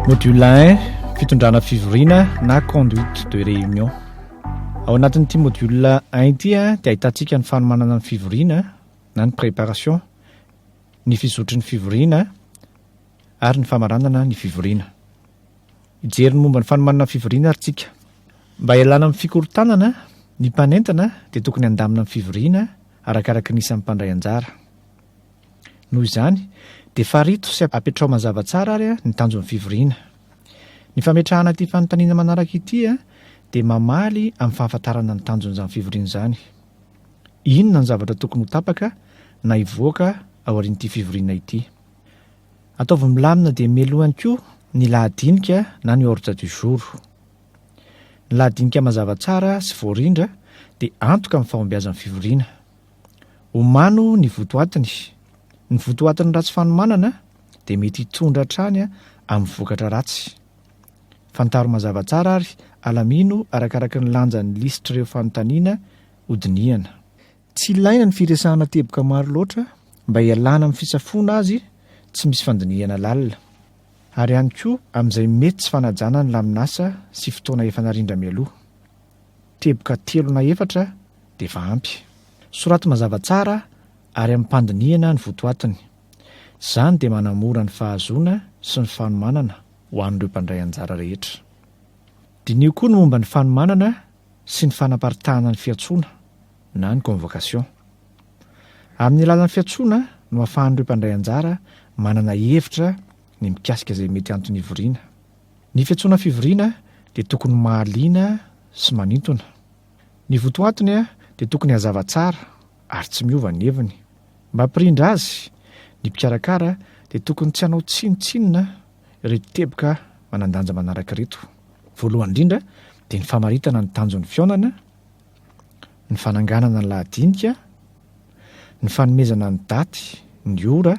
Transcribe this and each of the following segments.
Module 1, fitondrana fivoriana na conduite de réunion. Ao anatin'ity module 1 ity dia ahitantsika ny fanomanana ny fivoriana na ny préparation, ny fizotry ny fivoriana ary ny famaranana ny fivoriana. Hijery ny momba ny fanomanana ny fivoriana ary tsika. Mba hialana amin'ny fikorontanana, ny mpanentana dia tokony handamina ny fivoriana arakaraka ny isan'ny mpandray anjara. Noho izany, dia farito sy apetraho mazava tsara ary ny tanjon'ny fivoriana. Ny fametrahana ity fanontaniana manaraka ity dia mamaly amin'ny fahafantarana ny tanjon'izany fivoriana izany. Inona ny zavatra tokony ho tapaka na hivoaka aorian'ity fivoriana ity? Ataovy milamina dia mialoha ihany koa ny lahadinika na ny ordre du jour. Ny lahadinika mazava tsara sy voarindra dia antoka amin'ny fahombiazan'ny fivoriana. Omano ny votoatiny. Ny votoatin'ny ratsy fanomanana dia mety hitondra hatrany amin'ny vokatra ratsy. Fantaro mazava tsara ary alamino arakaraka ny lanjan'ny lisitr'ireo fanontaniana hodinihana. Tsy ilaina ny firesahana teboka maro loatra mba hialana amin'ny fisafoana azy tsy misy fandinihana lalina, ary ihany koa amin'izay mety tsy fanajana ny lamin'asa sy fotoana efa narindra mialoha. Teboka telo na efatra dia efa ampy. Soraty mazava tsara ary amim-pandinihana ny votoatiny. Izany dia manamora ny fahazoana sy ny fanomanana ho an'ireo mpandray anjara rehetra. Diniho koa ny momba ny fanomanana sy ny fanaparitahana ny fiantsoana na ny convocation. Amin'ny alalan'ny fiantsoana no ahafahan'ireo mpandray anjara manana hevitra ny mikasika izay mety anton'hivoriana Ny fiantsoana fivoriana dia tokony mahaliana sy manintona. Ny votoatiny dia tokony hazava tsara ary tsy miova ny heviny. Mba hampirindra azy, ny mpikarakara dia tokony tsy hanao tsinontsinona ireto teboka manan-danja manaraka ireto. Voalohany indrindra dia ny famaritana ny tanjon'ny fihaonana, ny fananganana ny lahadinika, ny fanomezana ny daty, ny ora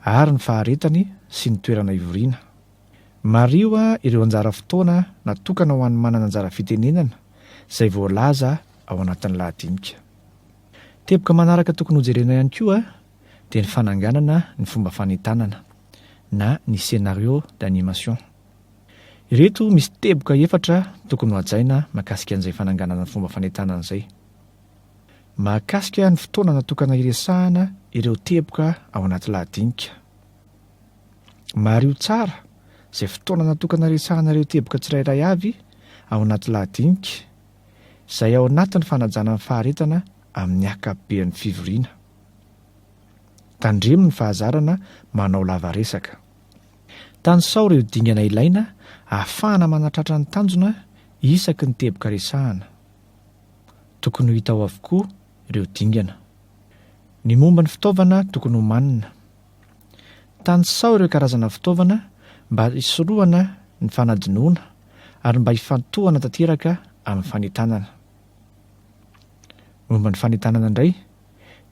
ary ny faharetany sy ny toerana hivoriana. Mariho ireo anjara fotoana natokana ho an'ny manana anjara fitenenana izay voalaza ao anatin'ny lahadinika. Teboka manaraka tokony hojerena ihany koa dia ny fananganana ny fomba fanentanana na ny scénario d'animation. Ireto misy teboka efatra tokony hohajaina mahakasika an'izay fananganana ny fomba fanentanana izay. Mahakasika ny fotoana natokana hiresahana ireo teboka ao anaty lahadinika. Mariho tsara izay fotoana natokana hiresahana ireo teboka tsirairay avy ao anaty lahadinika, izay ao anatin'ny fanajana ny faharetana amin'ny ankapoben'ny fivoriana. Tandremo ny fahazarana manao lavaresaka. Tanisao ireo dingana ilaina ahafahana manatratra ny tanjona isaky ny teboka resahana. Tokony ho hita ao avokoa ireo dingana. Ny momba ny fitaovana tokony homanina. Tanisaho ireo karazana fitaovana mba hisorohana ny fanadinoana ary mba hifantohana tanteraka amin'ny fanentanana. Momba ny fanentanana indray,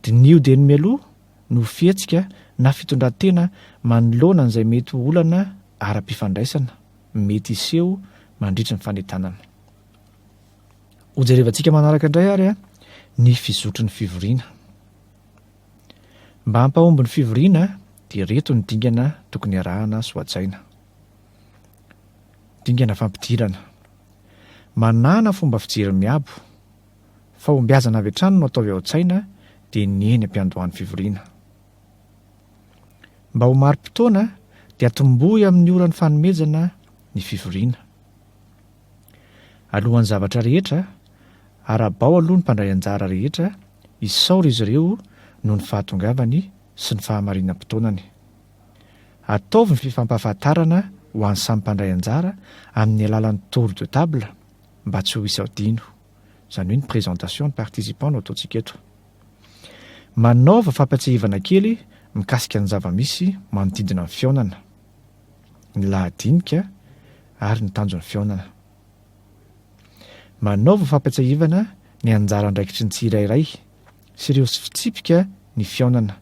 diniho dieny mialoha ny ho fihetsika na fitondran-tena manoloana an'izay mety ho olana ara-pifandraisana mety hiseho mandritry ny fanentanana. Hojerevantsika manaraka indray ary ny fizotry ny fivoriana. Mba hampahomby ny fivoriana dia ireto ny dingana tokony arahana sy hohajaina. Dingana fampidirana. Manàna fomba fijery miabo. Fahombiazana avy hatrany no ataovy ao an-tsaina dia ny eny am-piandohan'ny fivoriana. Mba ho mari-potoana dia atombohy amin'ny oran'ny fanomezana ny fivoriana. Alohan'ny zavatra rehetra, arabao aloha ny mpandray anjara rehetra, isaora izy ireo noho ny fahatongavany sy ny fahamarinam-potoanany. Ataovy ny fifampahafantarana ho an'ny samy mpandray anjara amin'ny alalan'ny tour de table mba tsy ho hisy adino, izany hoe ny présentation ny participants no ataontsika eto. Manaova fampatsiahivana kely mikasika ny zava-misy manodidina ny fihaonana. ny lahadinika ary ny tanjon'ny fihaonana. Manaova fampiatsahivana ny anjara andraikitry ny tsirairay sy ireo fitsipika ny fihaonana,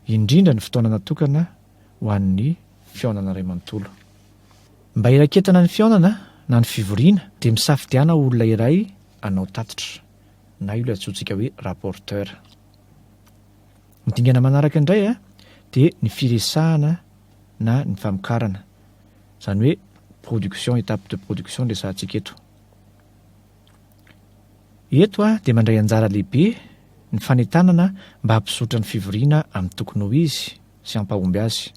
indrindra ny fotoana natokana ho an'ny fihaonana iray manontolo. Mba hiraketana ny fihaonana na ny fivoriana dia misafidiana olona iray hanao tatitra, na io ilay antsointsika hoe rapporteur. Ny dingana manaraka indray dia ny firesahana na ny famokarana, izany hoe production, étape de production no resahantsika eto. Eto dia mandray anjara lehibe ny fanentanana mba hampizotra ny fivoriana amin'ny tokony ho izy sy hampahomby azy.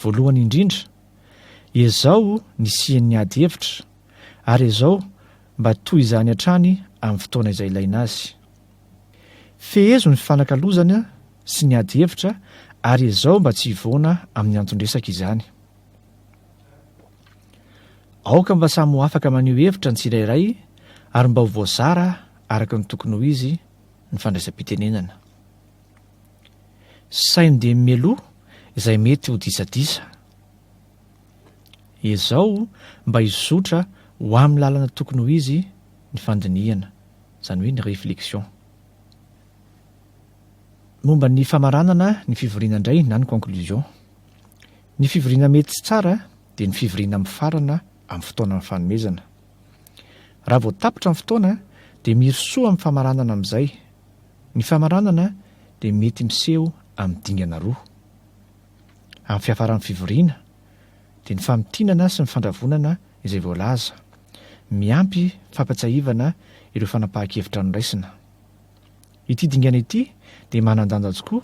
Voalohany indrindra, ezao ny hisian'ny ady hevitra ary ezao mba toy izany hatrany amin'ny fotoana izay ilaina azy. Fehezo ny fifanakalozana sy ny ady hevitra ary ezao mba tsy hivoana amin'ny anton-dresaka izany. Aoka mba samy ho afaka maneho hevitra ny tsirairay ary mba ho voazara araka ny tokony ho izy ny fandraisam-pitenenana. Saino dia mimeloha izay mety ho disadisa. Ezao mba hizotra ho amin'ny lalana tokony ho izy ny fandinihana, izany hoe ny réflexion. Momba ny famaranana ny fivoriana indray na ny conclusion. Ny fivoriana mety sy tsara dia ny fivoriana mifarana amin'ny fotoanan'ny fanomezana. Raha vao tapitra ny fotoana dia mirosoa amin'ny famaranana amin'izay. Ny famaranana dia mety miseho amin'ny dingana roa. amin'ny fiafaran'ny fivoriana dia ny famintinana sy ny fandravonana izay voalaza. Miampy fampatsiahivana ireo fanapahan-kevitra noraisina. Ity dingana ity dia manan-danja tokoa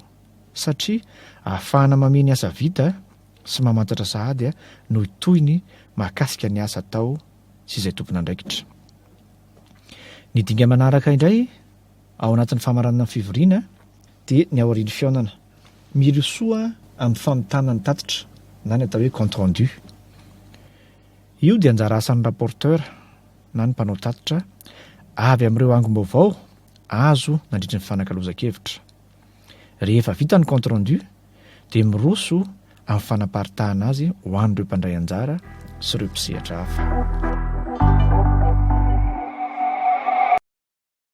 satria ahafahana mamia ny asa vita sy mamantatra sahady noho tohiny mahakasika ny asa atao sy izay tompon'andraikitra. Ny dinga manaraka indray ao anatin'ny famaranana ny fivoriana dia ny aorian'ny fihaonana. Mirosoa amin'ny famitana ny tatitra na ny atao hoe compte rendu. Io dia anjara asan'ny rapporteur na ny mpanao tatitra avy amin'ireo angom-baovao azo nandritry ny fanakalozan-kevitra. Rehefa vita ny compte rendu dia miroso amin'ny fanaparitahana azy ho an'ireo mpandray anjara sy ireo mpisehatra hafa.